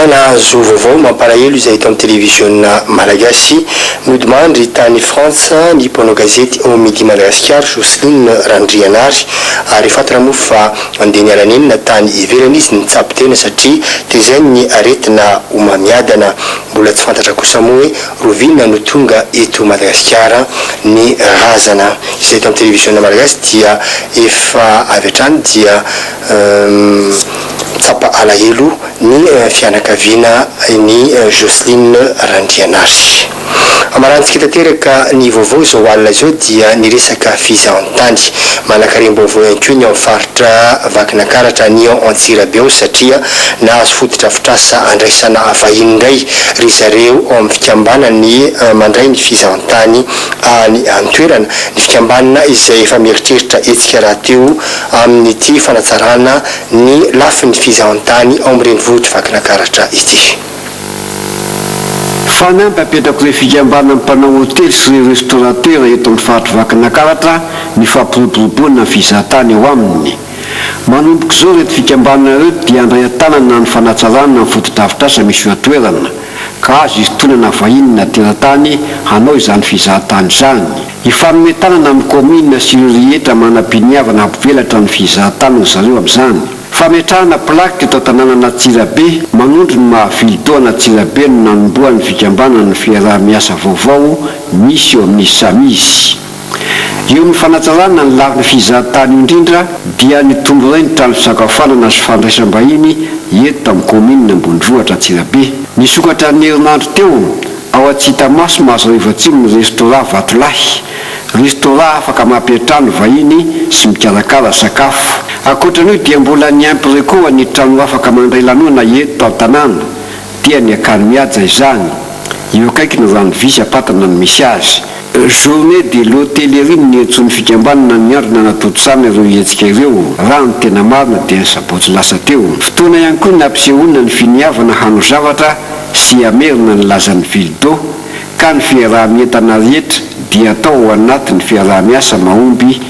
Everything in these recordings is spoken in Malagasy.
Fa nahazo vaovao mampalahelo izay eto amin'ny televiziona malagasy. Nodimandry tany Frantsa ny mpanao gazety ao Midi Madagascar, Jocelyne Randrianary, ary efa fantatra moa fa andeha niala nenina tany ivelany izy nitsabo tena satria tezain'ny aretina homamiadana. Mbola tsy fantatra kosa moa hoe roviana no tonga eto Madagasikara ny razana izay eto amin'ny televiziona malagasy dia efa avy hatrany dia Mitsapa alahelo ny fianakaviana ny Jocelyne Randrianary. Marantsika tanteraka ny vaovao izao alina izao dia ny resaka fizahantany. Manakarem-baovao ihany koa ny ao amin'ny faritra Vakinankaratra any Antsirabe ao satria nahazo fotodrafitrasa andraisana vahiny indray ry zareo ao amin'ny fikambanany mandray ny fizahantany any an-toerana, ny fikambanana izay efa mieritreritra hetsika rahateo amin'ity fanatsarana ny lafiny fizahantany ao amin'ny renivohitr'i Vakinakaratra ity. Fanamby hapetrako ireo fikambanan'ny mpanao hotely sy ireo restaurateurs eto amin'ny faritr'i Vakinakaratra ny fampiroboroboana ny fizahantany ao aminy. Manomboka izao ireto fikambanana ireto dia handray an-tanana ny fanatsarana ny fotodrafitrasa misy eo an-toerana, ka azo isintonana vahiny na teratany hanao izany fizahantany izany. Hifanome tanana amin'ny kaominina sy ireo rehetra manam-piniavana hampivelatra ny fizahantany ry zareo amin'izany. Fametrahana plaque teto an-tanànana Antsirabe manondro ny maha vilitoana Antsirabe no nanombohan'ny fikambanan'ny fiaraha-miasa vaovao misy eo amin'ny Samiz. Eo amin'ny fanatsarana ny lafiny fizahantany io indrindra dia ny tondroy ny trano fisakafoanana sy fandraisam-bahiny eto amin'ny kaominina ambondrohitra Antsirabe. Nisokatra ny herinandro teo Ao Antsitamaso, Mahazoarivoatsimo ny Restaurant Vatolahy. Restaurant afaka mampiantrano vahiny sy mikarakara sakafo. Ankoatran'io dia mbola niimpre koa ny trano afaka mandray lanona eto an-tanàna, dia ny Akany Mihaja izany. Eo akaiky ny rano visy am-patana no misy azy. Journée de l'hôtellerie no niantsoan'ny fikambanana ny andro nanatontosana ireo hetsika ireo, raha ny tena marina dia ny sabotsy lasa teo. Fotoana ihany koa nampisehoana ny finiavana hano zavatra sy hamerina ny lazan'ny ville d'Eau ka ny fiaraha-mientana rehetra dia atao ao anatin'ny fiaraha-miasa mahomby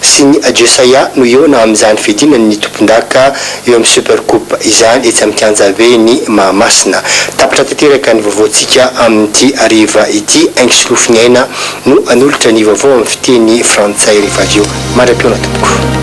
sy ny Adieu Saya no hihaona amin'izany fiadiana ny tompondaka eo amin'ny Super Coupe izany etsy amin'ny Kianja Vy ny Mahamasina. Tapitra tanteraka ny vaovaontsika amin'ity hariva ity, Aingisolofon'i Aina no hanolotra ny vaovao amin'ny fiteny frantsay rehefa avy eo. Mandra-pihaona tompoko.